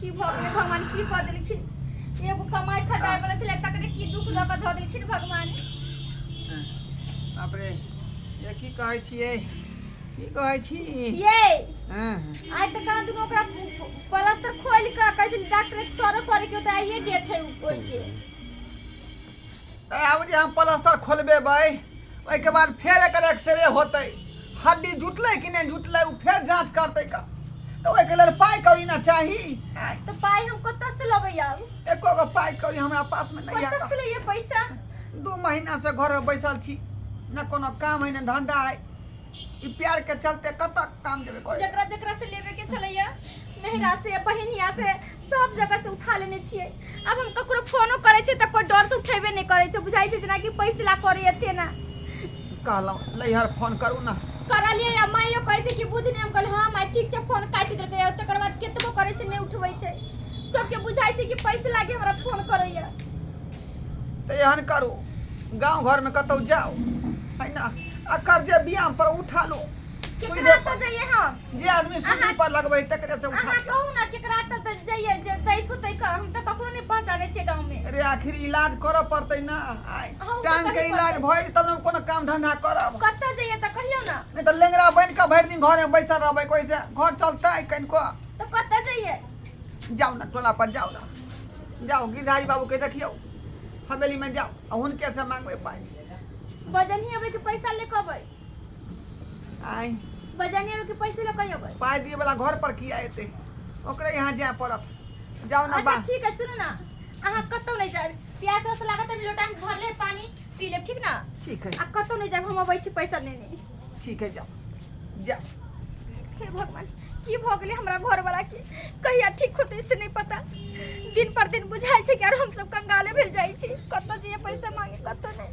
की भऽ गेलै भगवान की कऽ देलखिन एगो कमाइ खटाइ वाला छलै तकरे की दुख दऽ कऽ धऽ देलखिन भगवान बाप रे ये की कहै छियै की कहै छी ये हँ आइ तऽ कहाँ दुनू ओकरा प्लास्टर खोलि कऽ कहै छलै डॉक्टर सरो करे के होतै आइए डेट है ओहिके आब जे हम प्लस्तर खोलबेबै ओहिके बाद फेर एकर एक्सरे होतै हड्डी जुटलै कि नहि जुटलै ओ फेर जाँच करतै का तऽ ओहिके लेल पाइ कौड़ी ने चाही आँय, तो पाई हम कत्ता से लबे आऊ एको गो पाइ कौड़ी हमरा पासमे नहि कत्ता से है लिए पैसा दू महीना से घर में बैसल छी न कोनो काम है न धंधा है ई प्यार के चलते कतऽ काम जेबे करे जकरा जकरा से लेबे के छलैया नहिरा से बहिनिया से सब जगह से उठा लेने छियै आब हम ककरो फोनो करै छियै तऽ कोइ डर से उठेबे नहि करै छै बुझाइ छै जेनाकि पैसे ला करै एते ना कहलहुँ नैहर फोन करू ने करलियै आ माइयो कहै छै कि बुध नहि हम कहलियै हँ माइ ठीक छै फोन काटि देलकै आ तकर बाद केतबो करै छै नहि उठबै छै सबके बुझाइ छै कि पैसे लागे हमरा फोन करैया तऽ एहन करू गाँव घरमे कतहु जाउ है ना आ कर्जे बियाम पर उठा लो केकरा तऽ जइए हम जे आदमी सूली अहाँ- पर लगबै तकरे से उठा अहाँ कहू ने केकरा तऽ तऽ जइए जे दैत होतै क- हम तऽ ककरो नहि पहचानै छियै गाँवमे अरे आखिर इलाज करऽ पड़तै ना आइ अहूँ तऽ टांग के करै इलाज पड़तै। भइल तब ने हम कोनो काम धंधा करब कतऽ जइए तऽ कहियौ ने नहीं तो लेंगरा बन के भरि दिन घर में बैठल रहबै कोई से घर चलते कनिको तऽ कतऽ जइए जाओ ना टोला पर जाओ ना जाओ गिरधारी बाबू के देखियो हवेली में जाओ आ हुनके से मांगबै पाई बजनी अबै के पैसा ले कबै आइ बजनिया में के पैसे ले कहियो बस पाइ दिए वाला घर पर किया एते ओकरे यहाँ जाय पड़त जाओ ना अच्छा बा ठीक है सुनो ना अहाँ कतौ नहीं जाए प्यास वास लागत है लोटा में भरले पानी पी लेब ठीक ना ठीक है आ कतौ नहीं जाए हम अबै छी पैसा लेने ठीक है जाओ जाओ हे भगवान की भऽ गेलै हमरा घरवला के कहिया ठीक होतै से नहि पता दिन पर दिन बुझाइ छै कि आर हमसब कंगाले भेल जाइ छी कतऽ जइए पैसा मांगे कतऽ नहि